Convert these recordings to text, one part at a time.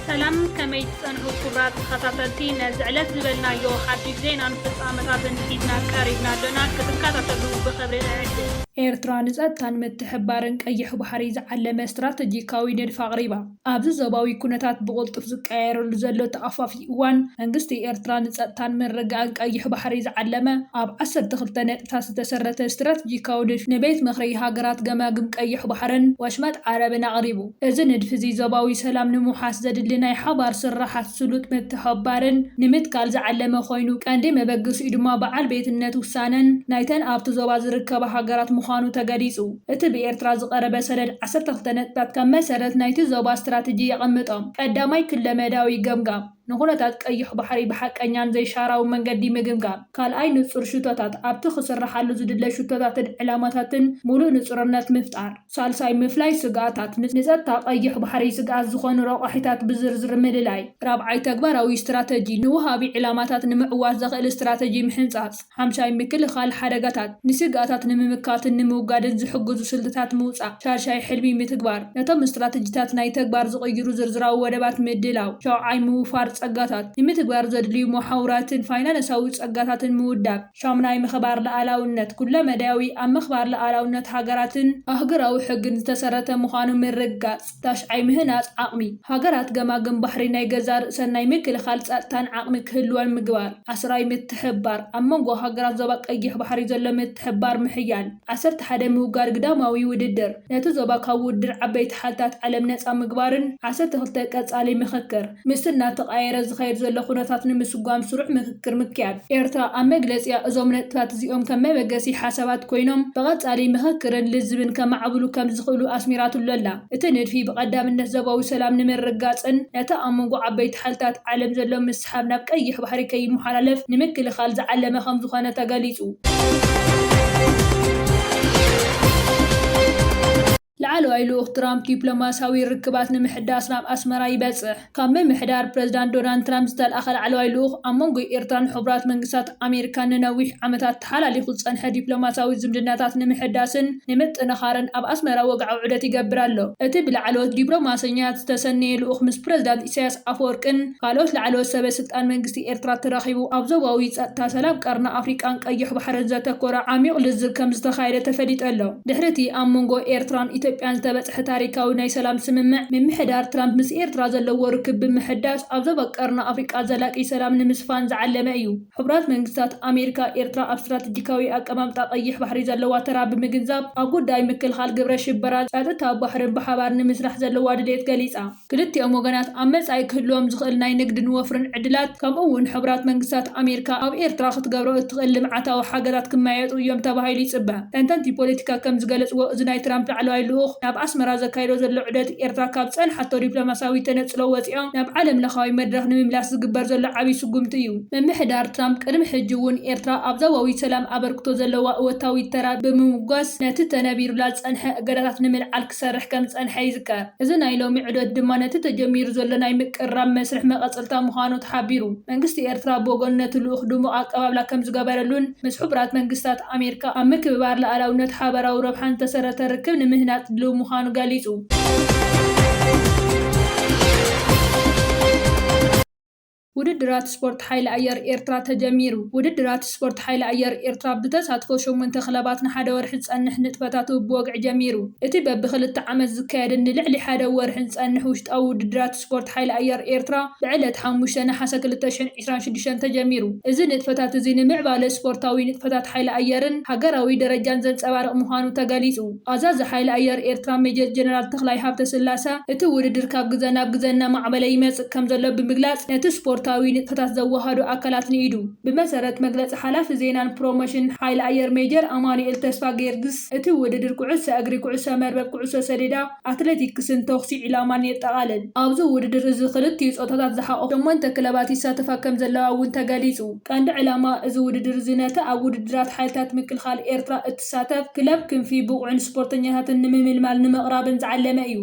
ሰላም ከመይ ትጸንሑ ክቡራት ተኸታተልቲ ነዚ ዕለት ዝበልናዮ ሓድሽ ዜናን ፍጻመታትን ሒዝና ቀሪብና ኣሎና ክትከታተሉ ብኽብሪ እዕድም። ኤርትራ ንጸጥታን ምትሕብባርን ቀይሕ ባሕሪ ዝዓለመ ስትራተጂካዊ ንድፊ ኣቕሪባ። ኣብዚ ዞባዊ ኩነታት ብቕልጡፍ ዝቀያየረሉ ዘሎ ተኣፋፊ እዋን፣ መንግስቲ ኤርትራ ንጸጥታን ምርግጋእን ቀይሕ ባሕሪ ዝዓለመ፣ ኣብ ዓሰርተ ክልተ ነጥብታት ዝተሰረተ ስትራተጂካዊ ንድፊ ንቤት ምኽሪ ሃገራት ገማግም ቀይሕ ባሕርን ወሽመጥ ዓረብን ኣቕሪቡ። እዚ ንድፊ'ዚ፣ ዞባዊ ሰላም ንምውሓስ ዘድሊ ናይ ሓባር ስርሓት ስሉጥ ምትሕብባርን ንምትካል ዝዓለመ ኮይኑ፣ ቀንዲ መበገሲኡ ድማ በዓል ቤትነት ውሳነን ናይተን ኣብቲ ዞባ ዝርከባ ሃገራት ምዃኑ ተገሊጹ። እቲ ብኤርትራ ዝቐረበ ሰነድ ዓሰርተ ክልተ ነጥብታት ከም መሰረት ናይቲ ዞባ ስትራተጂ የቐምጦም። ቀዳማይ ክለመዳዊ ገምጋም፣ ንኩነታት ቀይሕ ባሕሪ ብሓቀኛን ዘይሻራውን መንገዲ ምግምጋም። ካልኣይ ንጹር ሽቶታት፣ ኣብቲ ክስራሓሉ ዝድለ ሽቶታትን ዕላማታትን ምሉእ ንጹርነት ምፍጣር። ሳልሳይ ምፍላይ ስግኣታት፣ ንጸጥታ ቀይሕ ባሕሪ ስግኣት ዝኾኑ ረቋሒታት ብዝርዝር ምልላይ። ራብዓይ ተግባራዊ ስትራተጂ፣ ንወሃቢ ዕላማታት ንምዕዋት ዘኽእል ስትራተጂ ምሕንጻጽ። ሓምሻይ ምክልኻል ሓደጋታት፣ ንስግኣታት ንምምካትን ንምውጋድን ዝሕግዙ ስልትታት ምውጻእ። ሻድሻይ ሕልሚ ምትግባር፣ ነቶም ስትራተጂታት ናይ ተግባር ዝቕይሩ ዝርዝራዊ ወደባት ምድላው። ሻውዓይ ምውፋር ጸጋታት፣ ንምትግባር ዘድልዩ መሓውራትን ፋይናነሳዊ ጸጋታትን ምውዳብ። ሻሙናይ ምኸባር ልኣላውነት፣ ኩለመዳያዊ ኣብ ምኽባር ልኣላውነት ሃገራትን ኣህጉራዊ ሕግን ዝተሰረተ ምዃኑ ምርግጋጽ። ታሽዓይ ምህናፅ ዓቕሚ ሃገራት ገማግም ባሕሪ ናይ ገዛእ ርእሰን ናይ ምክልኻል ፀጥታን ዓቕሚ ክህልወን ምግባር። ዓስራይ ምትሕብባር ኣብ መንጎ ሃገራት ዞባ ቀይሕ ባሕሪ ዘሎ ምትሕብባር ምሕያል። ዓሰርተ ሓደ ምውጋድ ግዳማዊ ውድድር ነቲ ዞባ ካብ ውድድር ዓበይቲ ሓልታት ዓለም ነፃ ምግባርን ዓሰርተ ክልተ ቀፃሊ ምኽክር። ምስቲ እናተቓየረ ዝኸይድ ዘሎ ኩነታት ንምስጓም ስሩዕ ምክክር ምክያድ። ኤርትራ ኣብ መግለጺኣ እዞም ነጥብታት እዚኦም ከም መበገሲ ሓሳባት ኮይኖም ብቐጻሊ ምክክርን ልዝብን ከማዕብሉ ከም ዝኽእሉ ኣስሚራትሉ ኣላ። እቲ ንድፊ ብቐዳምነት ዞባዊ ሰላም ንምርግጋጽን ነቲ ኣብ መንጎ ዓበይቲ ሓልታት ዓለም ዘሎ ምስሕሓብ ናብ ቀይሕ ባሕሪ ከይመሓላለፍ ንምክልኻል ዝዓለመ ከም ዝኾነ ተገሊጹ። ላዕለዋይ ልኡኽ ትራምፕ ዲፕሎማስያዊ ርክባት ንምሕዳስ ናብ ኣስመራ ይበጽሕ። ካብ ምምሕዳር ፕረዚዳንት ዶናልድ ትራምፕ ዝተልኣኸ ላዕለዋይ ልኡኽ፣ ኣብ መንጎ ኤርትራን ሕቡራት መንግስታት ኣሜሪካን ንነዊሕ ዓመታት ተሓላሊኹ ዝጸንሐ ዲፕሎማስያዊ ዝምድናታት ንምሕዳስን ንምጥንኻርን ኣብ ኣስመራ ወግዓዊ ዑደት ይገብር ኣሎ። እቲ ብላዕለዎት ዲፕሎማሰኛታት ዝተሰነየ ልኡኽ ምስ ፕረዚዳንት ኢሳያስ ኣፈወርቅን ካልኦት ላዕለዎት ሰበ ስልጣን መንግስቲ ኤርትራ ተራኺቡ ኣብ ዞባዊ ጸጥታ፣ ሰላም ቀርኒ ኣፍሪቃን ቀይሕ ባሕርን ዘተኮረ ዓሚዩቕ ልዝብ ከምዝተኻየደ ተፈሊጡ ኣሎ። ድሕሪ'ቲ ኣብ መንጎ ኤርትራን ኢትዮጵያን ዝተበጽሐ ታሪካዊ ናይ ሰላም ስምምዕ፣ ምምሕዳር ትራምፕ ምስ ኤርትራ ዘለዎ ርክብ ብምሕዳስ ኣብ ዞባ ቀርኒ ኣፍሪቃ ዘላቂ ሰላም ንምስፋን ዝዓለመ እዩ። ሕቡራት መንግስታት ኣሜሪካ፣ ኤርትራ ኣብ ስትራተጂካዊ ኣቀማምጣ ቀይሕ ባሕሪ ዘለዋ ተራ ብምግንዛብ፣ ኣብ ጉዳይ ምክልኻል ግብረ ሽበራን ጸጥታ ባሕርን ብሓባር ንምስራሕ ዘለዋ ድሌት ገሊጻ። ክልቲኦም ወገናት ኣብ መጻኢ ክህልዎም ዝኽእል ናይ ንግድን ወፍርን ዕድላት ከምኡ'ውን ሕቡራት መንግስታት ኣሜሪካ ኣብ ኤርትራ ክትገብሮ እትኽእል ልምዓታዊ ሓገዛት ክመያየጡ እዮም ተባሂሉ ይጽበ። ተንተንቲ ፖለቲካ ከም ዝገለጽዎ እዚ ናይ ትራምፕ ላዕለዋይ ልኡኽ ናብ ኣስመራ ዘካይዶ ዘሎ ዑደት ኤርትራ ካብ ዝጸንሓቶ ዲፕሎማስያዊ ተነጽሎ ወጺኣ ናብ ዓለምለኻዊ መድረኽ ንምምላስ ዝግበር ዘሎ ዓቢ ስጉምቲ እዩ። ምምሕዳር ትራምፕ ቅድሚ ሕጂ እውን ኤርትራ ኣብ ዞባዊ ሰላም ኣበርክቶ ዘለዋ እወታዊ ተራ ብምምጓስ ነቲ ተነቢሩላ ዝጸንሐ እገዳታት ንምልዓል ክሰርሕ ከም ዝጸንሐ ይዝከር። እዚ ናይ ሎሚ ዑደት ድማ ነቲ ተጀሚሩ ዘሎ ናይ ምቅርራብ መስርሕ መቐጸልታ ምዃኑ ተሓቢሩ። መንግስቲ ኤርትራ ብወገኑ ነቲ ልኡኽ ድሙቕ ኣቀባብላ ከም ዝገበረሉን ምስ ሕቡራት መንግስታት ኣሜሪካ ኣብ ምክብባር ልኣላውነት ሓበራዊ ረብሓን ዝተሰረተ ርክብ ንምህናጽ ድልው ምዃኑ ገሊጹ። ውድድራት ስፖርት ሓይሊ ኣየር ኤርትራ ተጀሚሩ። ውድድራት ስፖርት ሓይሊ ኣየር ኤርትራ ብተሳትፎ ሸሞንተ ክለባት ንሓደ ወርሒ ዝጸንሕ ንጥፈታቱ ብወግዒ ጀሚሩ። እቲ በቢ ክልተ ዓመት ዝካየድን ንልዕሊ ሓደ ወርሒ ዝጸንሕ ውሽጣዊ ውድድራት ስፖርት ሓይሊ ኣየር ኤርትራ ብዕለት ሓሙሽተ ነሓሰ ክልተ ሽሕን ዕስራን ሽዱሽተን ተጀሚሩ። እዚ ንጥፈታት እዚ ንምዕባለ ስፖርታዊ ንጥፈታት ሓይሊ ኣየርን ሃገራዊ ደረጃን ዘንጸባርቕ ምዃኑ ተገሊጹ። ኣዛዚ ሓይሊ ኣየር ኤርትራ ሜጀር ጀነራል ተኽላይ ሃብተስላሰ፣ እቲ ውድድር ካብ ግዘ ናብ ግዘ እናማዕበለ ይመፅእ ከምዘሎ ብምግላፅ፣ ነቲ ስፖርታዊ ንጥፈታት ዘወሃህዱ ኣካላት ንኢዱ። ብመሰረት መግለፂ ሓላፊ ዜናን ፕሮሞሽንን ሓይሊ ኣየር ሜጀር ኣማኑኤል ተስፋጊዮርግስ፣ እቲ ውድድር ኩዕሶ እግሪ፣ ኩዕሶ መርበብ፣ ኩዕሶ ሰዲዳ፣ ኣትሌቲክስን ተኹሲ ዒላማን የጠቓልል። ኣብዚ ውድድር እዚ ክልቲኡ ፆታታት ዝሓቖፋ ሸሞንተ ክለባት ይሳተፋ ከምዘለዋ እውን ተገሊፁ። ቀንዲ ዕላማ እዚ ውድድር እዚ ነቲ ኣብ ውድድራት ሓይልታት ምክልኻል ኤርትራ እትሰርሖ፣ ሳታፍ ክለብ ክንፊ ብቑዕን ስፖርተኛታትን ንምምልማል ንምቕራብን ዝዓለመ እዩ።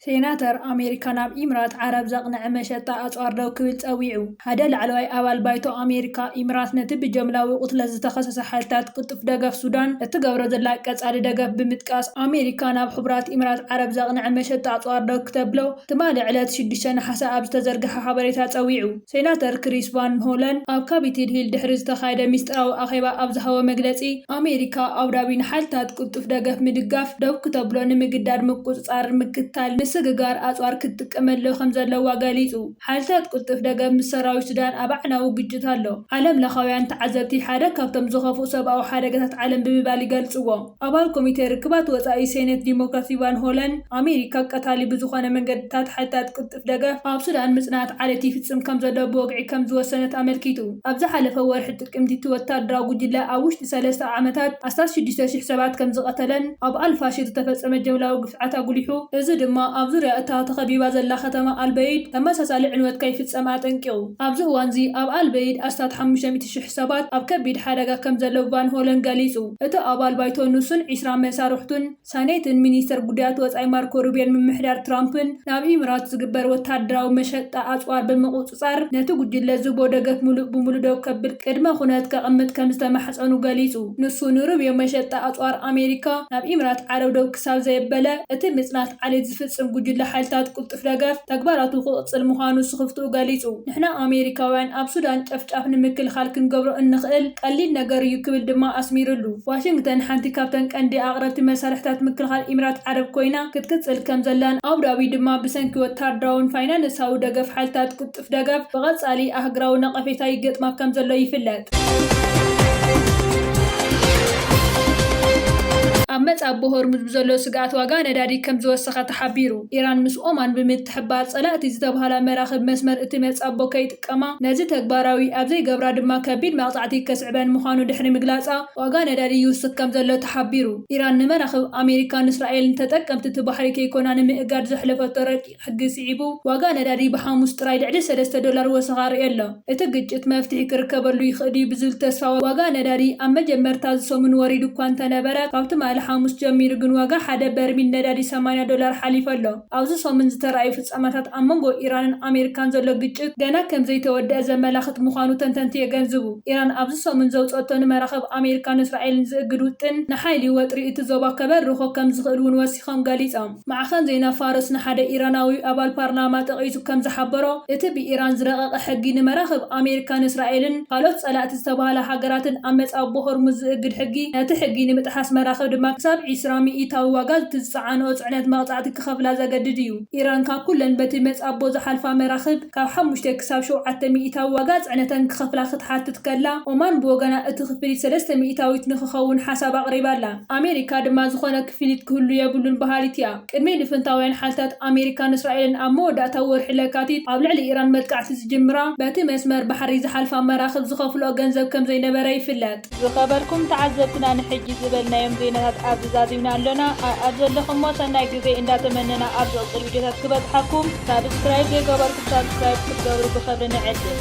ሴናተር ኣሜሪካ ናብ ኢምራት ዓረብ ዘቕንዐ መሸጣ ኣጽዋር ደው ክብል ጸዊዑ። ሓደ ላዕለዋይ ኣባል ባይቶ ኣሜሪካ፣ ኢምራት ነቲ ብጀምላዊ ቕትለት ዝተኸሰሰ ሓይልታት ቅልጡፍ ደገፍ ሱዳን እትገብሮ ዘላ ቀጻሊ ደገፍ ብምጥቃስ፣ ኣሜሪካ ናብ ሕቡራት ኢምራት ዓረብ ዘቕንዐ መሸጣ ኣጽዋር ደው ክተብሎ ትማሊ ዕለት ሽዱሽተ ነሓሰ ኣብ ዝተዘርግሐ ሓበሬታ ጸዊዑ። ሴናተር ክሪስ ቫን ሆለን ኣብ ካፒቲል ሂል ድሕሪ ዝተኻየደ ሚስጥራዊ ኣኼባ ኣብ ዝሃቦ መግለጺ፣ ኣሜሪካ ኣቡዳቢ ንሓይልታት ቅልጡፍ ደገፍ ምድጋፍ ደው ክተብሎ ንምግዳድ ምቁጽጻር፣ ምክትታል፣ ምስግጋር ኣጽዋር ክትጥቀመሉ ከምዘለዋ ገሊጹ። ሓይልታት ቅልጡፍ ደገፍ ምስ ሰራዊት ሱዳን ኣብ ኣዕናዊ ግጭት ኣሎ። ዓለምለኻውያን ተዓዘብቲ ሓደ ካብቶም ዝኸፍኡ ሰብኣዊ ሓደጋታት ዓለም ብምባል ይገልጽዎ። ኣባል ኮሚቴ ርክባት ወጻኢ ሴኔት ዲሞክራት ቫን ሆለን፣ ኣሜሪካ ቀታሊ ብዝኾነ መንገድታት ሓይልታት ቅልጡፍ ደገፍ ኣብ ሱዳን ምጽናት ዓሌት ይፍጽም ከም ዘሎ ብወግዒ ከም ዝወሰነት ኣመልኪቱ። ኣብ ዝሓለፈ ወርሒ ጥቅምቲ እቲ ወተሃደራዊ ጉጅለ ኣብ ውሽጢ ሰለስተ ዓመታት ኣስታት ሽዱሽተ ሽሕ ሰባት ከም ዝቐተለን ኣብ ኣል-ፋሽር ዝተፈጸመ ጅምላዊ ግፍዕታት ኣጉሊሑ፣ እዚ ድማ ኣብ ዙርያ እታ ተኸቢባ ዘላ ከተማ ኣል-በይድ ተመሳሳሊ ዕንወት ከይፍጸም ኣጠንቂቑ። ኣብዚ እዋን'ዚ ኣብ ኣል-በይድ ኣስታት ሓሙሽተ ሚእቲ ሽሕ ሰባት ኣብ ከቢድ ሓደጋ ከም ዘለዉ ቫን ሆለን ገሊጹ፣ እቲ ኣባል ባይቶ ንሱን ዕስራ መሳርሕቱን። ሳኔትን ሚኒስተር ጉዳያት ወጻኢ ማርኮ ሩቢዮን ምምሕዳር ትራምፕን ናብ ኢምራት ዝግበር ወተሃደራዊ መሸጣ ኣጽዋር ብምቁጽጻር ነቲ ጉጅለ ዝህቦ ደገፍ ምሉእ ብምሉእ ደው ከብል ቅድመ ኩነት ከቕምጥ ከም ዝተማሕጸኑ ገሊጹ። ንሱ ንሩቢዮ መሸጣ ኣጽዋር ኣሜሪካ ናብ ኢምራት ዓረብ ደው ክሳብ ዘየበለ እቲ ምጽናት ዓሌት ዝፍጽም ጉጅለ ሓይልታት ቅልጡፍ ደገፍ ተግባራቱ ክቕጽል ምዃኑ ስኽፍትኡ ገሊጹ። ንሕና ኣሜሪካውያን ኣብ ሱዳን ጨፍጫፍ ንምክልኻል ክንገብሮ እንኽእል ቀሊል ነገር እዩ ክብል ድማ ኣስሚርሉ። ዋሽንግተን ሓንቲ ካብተን ቀንዲ ኣቕረብቲ መሳርሒታት ምክልኻል ኢምራት ዓረብ ኮይና ክትቅጽል ከምዘላን ኣቡዳቢ ድማ ብሰንኪ ወተሃደራውን ፋይናነሳዊ ደገፍ ሓይልታት ቁጥጥር ዝህብ ደገፍ ብቐጻሊ ኣህግራዊ ነቐፌታ ይገጥማ ከም ዘሎ ይፍለጥ። ኣብ መጻቦ ሆርሙዝ ብዘሎ ስግኣት ዋጋ ነዳዲ ከም ዝወሰኸ ተሓቢሩ። ኢራን ምስ ኦማን ብምትሕብባር ጸላእቲ ዝተብሃላ መራኽብ መስመር እቲ መጻቦ ከይጥቀማ፣ ነዚ ተግባራዊ ኣብ ዘይገብራ ድማ ከቢድ መቕጻዕቲ ከስዕበን ምዃኑ ድሕሪ ምግላጻ ዋጋ ነዳዲ ይውስኽ ከም ዘሎ ተሓቢሩ። ኢራን ንመራኽብ ኣሜሪካን እስራኤልን ተጠቀምቲ እቲ ባሕሪ ከይኮና ንምእጋድ ዘሕለፈቶ ረቂቕ፣ ሕጊ ስዒቡ ዋጋ ነዳዲ ብሓሙስ ጥራይ ልዕሊ ሰለስተ ዶላር ወሰኽ ኣርእዮ ኣሎ። እቲ ግጭት መፍትሒ ክርከበሉ ይኽእል'ዩ ብዝብል ተስፋ ዋጋ ነዳዲ ኣብ መጀመርታ እዚ ሰሙን ወሪዱ እኳ እንተነበረ ካብ ትማሊ ሓሙስ ጀሚሩ ግን ዋጋ ሓደ በርሚል ነዳዲ ሰማንያ ዶላር ሓሊፉ ኣሎ። ኣብዚ ሰሙን ዝተራእዩ ፍጻመታት ኣብ መንጎ ኢራንን ኣሜሪካን ዘሎ ግጭት ገና ከምዘይተወደኣ ዘመላኽት ምዃኑ ተንተንቲ የገንዝቡ። ኢራን ኣብዚ ሰሙን ዘውጽኦቶ ንመራኽብ ኣሜሪካን እስራኤልን ዝእግድ ውጥን ንሓይሊ ወጥሪ እቲ ዞባ ከበርኾ ከምዝኽእል'ውን ወሲኾም ገሊጾም። ማዕኸን ዜና ፋርስ ንሓደ ኢራናዊ ኣባል ፓርላማ ጠቒሱ ከም ዝሓበሮ፣ እቲ ብኢራን ዝረቐቐ ሕጊ ንመራኽብ ኣሜሪካን እስራኤልን ካልኦት ጸላእቲ ዝተባህላ ሃገራትን ኣብ መጻብቦ ሆርሙዝ ዝእግድ ሕጊ፣ ነቲ ሕጊ ንምጥሓስ መራኽብ ድማ ክሳብ ዕስራ ሚኢታዊ ዋጋ እቲ ዝጸዓንኦ ጽዕነት መቕጻዕቲ ክኸፍላ ዘገድድ እዩ። ኢራን ካብ ኩለን በቲ መጻብቦ ዝሓልፋ መራኽብ ካብ ሓሙሽተ ክሳብ ሸውዓተ ሚኢታዊ ዋጋ ጽዕነተን ክኸፍላ ክትሓትት ከላ፣ ኦማን ብወገና እቲ ክፍሊት ሰለስተ ሚኢታዊት ንክኸውን ሓሳብ ኣቕሪባ ኣላ። ኣሜሪካ ድማ ዝኾነ ክፍሊት ክህሉ የብሉን በሃሊት እያ። ቅድሚ ልፍንታውያን ሓልታት ኣሜሪካን እስራኤልን ኣብ መወዳእታ ወርሒ ለካቲት ኣብ ልዕሊ ኢራን መጥቃዕቲ ዝጅምራ፣ በቲ መስመር ባሕሪ ዝሓልፋ መራኽብ ዝኸፍልኦ ገንዘብ ከምዘይነበረ ይፍለጥ። ዝኸበርኩም ተዓዘብትና ንሕጂ ዝበልናዮም ዜናታት ኣብዚ ዛዚምና ኣሎና ኣኣብ ዘለኹሞ ሰናይ ግዜ እንዳተመነና ኣብ ዝቕጽል ቪድዮታት ክበጽሓኩም ሳብስክራይብ ዘይገበርኩም ሳብስክራይብ ክትገብሩ ብኽብሪ ንዕድም።